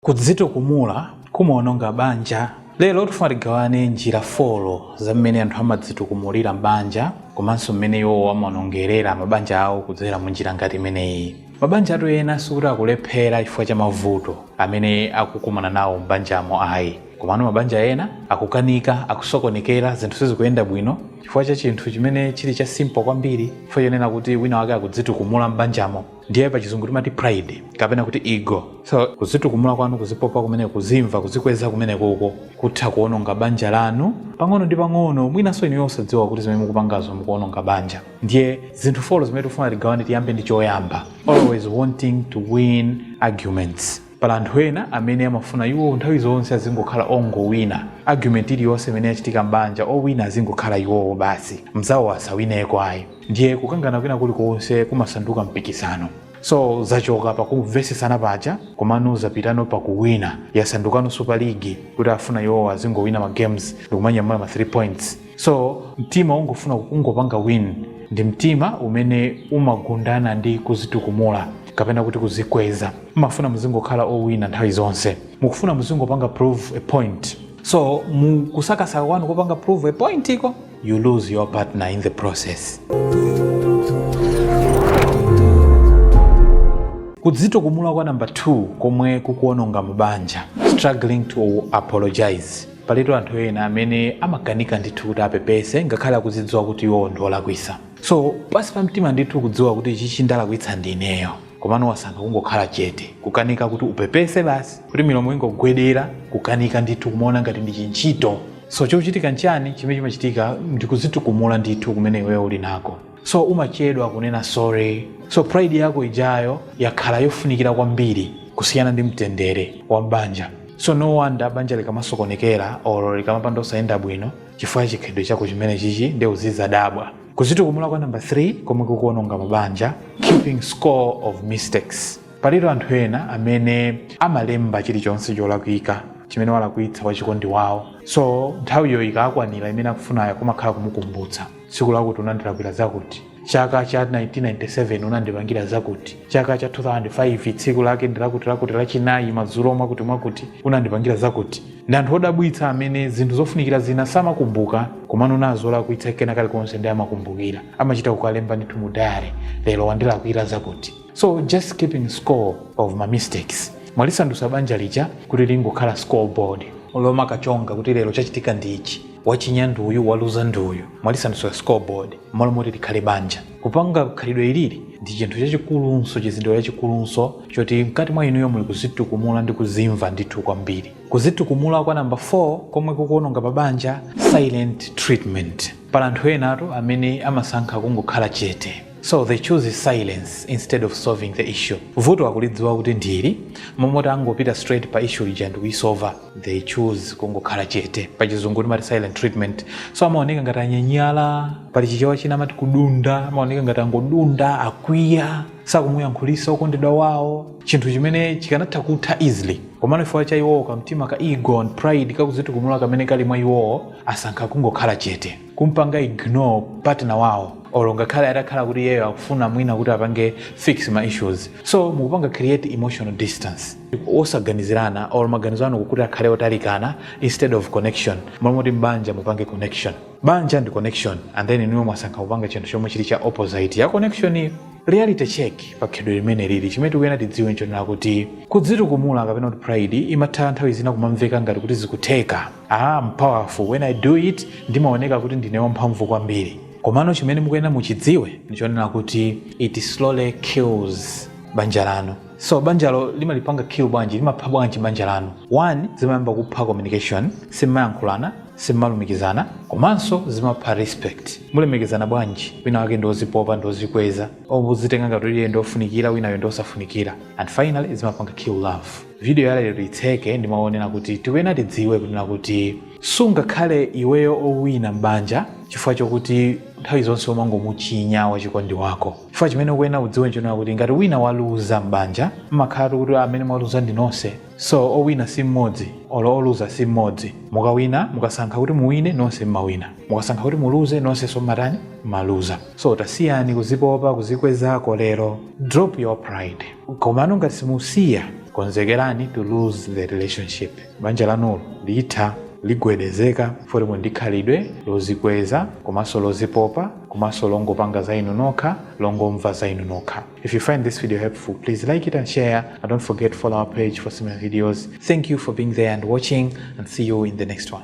Kudzitukumula kumawononga banja. Lero tifuna tigawane njira folo za mmene anthu amadzitukumulira m'banja komanso mmene iwowo amawonongerera mabanja awo kudzera mu njira ngati imeneyi. Mabanjatu ena sikuti akulephera chifukwa cha mavuto amene akukumana nawo m'banjamo ayi. Komano mabanja ena akukanika, akusokonekera, zinthu sizikuyenda bwino chifukwa cha chinthu chimene chili cha simple kwambiri, chifukwa chonena kuti winawake akudzitukumula m'banjamo. ndiye pachizungu timati pride kapena kuti ego so kuzitukumula kwanu kuzipopa kumene kuzimva kuzikweza kumeneko ko kutha kuononga banja lanu pang'ono ndi pang'ono mwinanso inuyo osadziwa kuti zimene mukupangazo mukuononga banja ndiye zinthu folo zimene tifuna tigawane tiyambe ndi choyamba always wanting to win arguments Pali anthu ena amene amafuna iwo nthawi zonse azingokhala ongowina. Argument iliyonse imene yachitika m'banja, owina azingokhala iwowo basi, mnzawo asawineko ayi. Ndiye kukangana kwina kulikonse kumasanduka mpikisano. So, zachoka pa kumvetsetsana paja komano zapitano pa kuwina. Yasandukano Super League, kuti afuna iwowo azingowina ma games ndi kumanyamula ma 3 points. so mtima ungofuna kungopanga win ndi mtima umene umagundana ndi kuzitukumula kapena kuti kuzikweza mumafuna muzingokhala owina nthawi zonse mukufuna muzingopanga prove a point so mukusakasaka kwanu kopanga prove a point iko you lose your partner in the process kudzitukumula kwa number 2 komwe kukuononga mabanja struggling to apologize Palitu anthu ena amene amakanika ndithu kuti apepese ngakhale akuzidziwa kuti iwowo ndi olakwisa. So pansi pa mtima ndithu ukudziwa kuti ichichi ndalakwitsa ndi ineyo komano wasankha kungokhala chete, kukanika kuti upepese basi, kuti milomo ingogwedera, kukanika ndithu kumaona ngati ndi chintchito. So chikuchitika nchani? Chimene chimachitika ndi kudzitukumula ndithu kumene iweyo uli nako. So umachedwa kunena sorry. So pride yako ijayo yakhala yofunikira kwambiri kusiyana ndi mtendere wa m'banja. So no wonder banja likamasokonekera or likamapanda osayenda bwino chifukwa cha chikhalidwe chako chimenechichi nde uzidzadabwa. Kuzitukumula kwa number 3 komwe kukuononga mabanja, keeping score of mistakes. Palitu anthu ena amene amalemba chilichonse cholakwika chimene walakwitsa wachikondi wawo. So nthawiyo ikakwanira imene akufunayo kumakhala kumukumbutsa. tsiku lakuti unandilakwira zakuti chaka cha 1997 unandipangira zakuti chaka cha 2005 tsiku lake ndilakuti lakuti lachinayi madzulo mwakuti mwakuti unandipangira zakuti ndi anthu odabwitsa amene zinthu zofunikira zina samakumbuka komano mnzawo walakwitsa kena kalikonse nde amakumbukira amachita kukalemba ndithu mu diary lero wandilakwira zakuti so just keeping score of ma mistakes mwalisandutsa banja lija kuti lingokhala scoreboard lomwe akachonga kuti lero chachitika ndi ichi wachinya ndi uyu waluza ndi uyu mwalisandutsa scoreboard mmalo moti likhale banja kupanga khalidwe ilili ndi chinthu chachikulunso chizindikiro chachikulunso choti mkati mwa inuyo muli kuzitukumula ndi kuzimva ndithu kwambiri kuzitukumula kwa namba 4 komwe kukuononga mabanja silent treatment pali anthu enatu amene amasankha kungokhala chete so they choose silence instead of solving the issue vuto akulidziwa kuti ndi ili mmalo moti angopita straight pa issue ija ndikuisova they choose kungokhala chete pachizungu timati silent treatment so amaoneka ngati anyanyala pali chichewa china amati kudunda amaoneka ngati angodunda akwiya sakumuyankhulisa okondedwa wawo chinthu chimene chikanatha kutha easily komano chifukwa cha iwowo kamtima ka ego and pride kakuzitukumula kamene kali mwa iwowo asankha kungokhala chete kumpanga ignore partner wawo olo ngakhale atakhala kuti iyeyo akufuna mwina kuti apange fix ma issues so mukupanga create emotional distance osaganizirana or maganizo anu kuti akhale otalikana instead of connection malo moti m'banja mupange connection banja ndi connection and then inuyo mwasankha kupanga chinthu chomwe chili cha opposite ya connection iyo reality check pa khalidwe limeneli ili chimene tikuyenera tidziwe nchonena kuti kudzitukumula kapena kuti pride imatha nthawi zina kumamveka ngati kuti zikutheka ah I'm powerful when I do it ndimaoneka kuti ndine wamphamvu kwambiri komano chimene mukuyenera muchidziwe ndichonena kuti it slowly kills banja lanu so banjalo limalipanga kill bwanji limapha bwanji banja lanu one zimayamba kupha communication simmayankhulana simmalumikizana komanso zimapha respect mulemekezana bwanji wina wake ndiozipopa ndiozikweza ozitenga ngati iye ndiofunikira winayo ndiosafunikira and finally zimapanga kill love video ya lero itseke ndi mawu onena kuti tikuyenera tidziwe kunena kuti sungakhale iweyo owina m'banja chifukwa chokuti nthawi zonse umangomuchinya wachikondi wako chifukwa chimene ukuyenera kudziwa nchonena kuti ngati wina waluza m'banja mmakhalatu kuti amene mwaluza ndi nonse so owina si mmodzi olo oluza si mmodzi mukawina mukasankha kuti muwine nonse mmawina mukasankha kuti muluze nonsenso mmatani mmaluza so tasiyani kuzipopa kuzikwezako lero drop your pride komano ngati simusiya konzekerani to lose the relationship banja lanulo litha, ligwedezeka poti muli ndi khalidwe lozikweza komanso lozipopa komanso longopanga za inu nokha longomva za inu nokha if you find this video helpful please like it and share and don't forget to follow our page for similar videos thank you for being there and watching and see you in the next one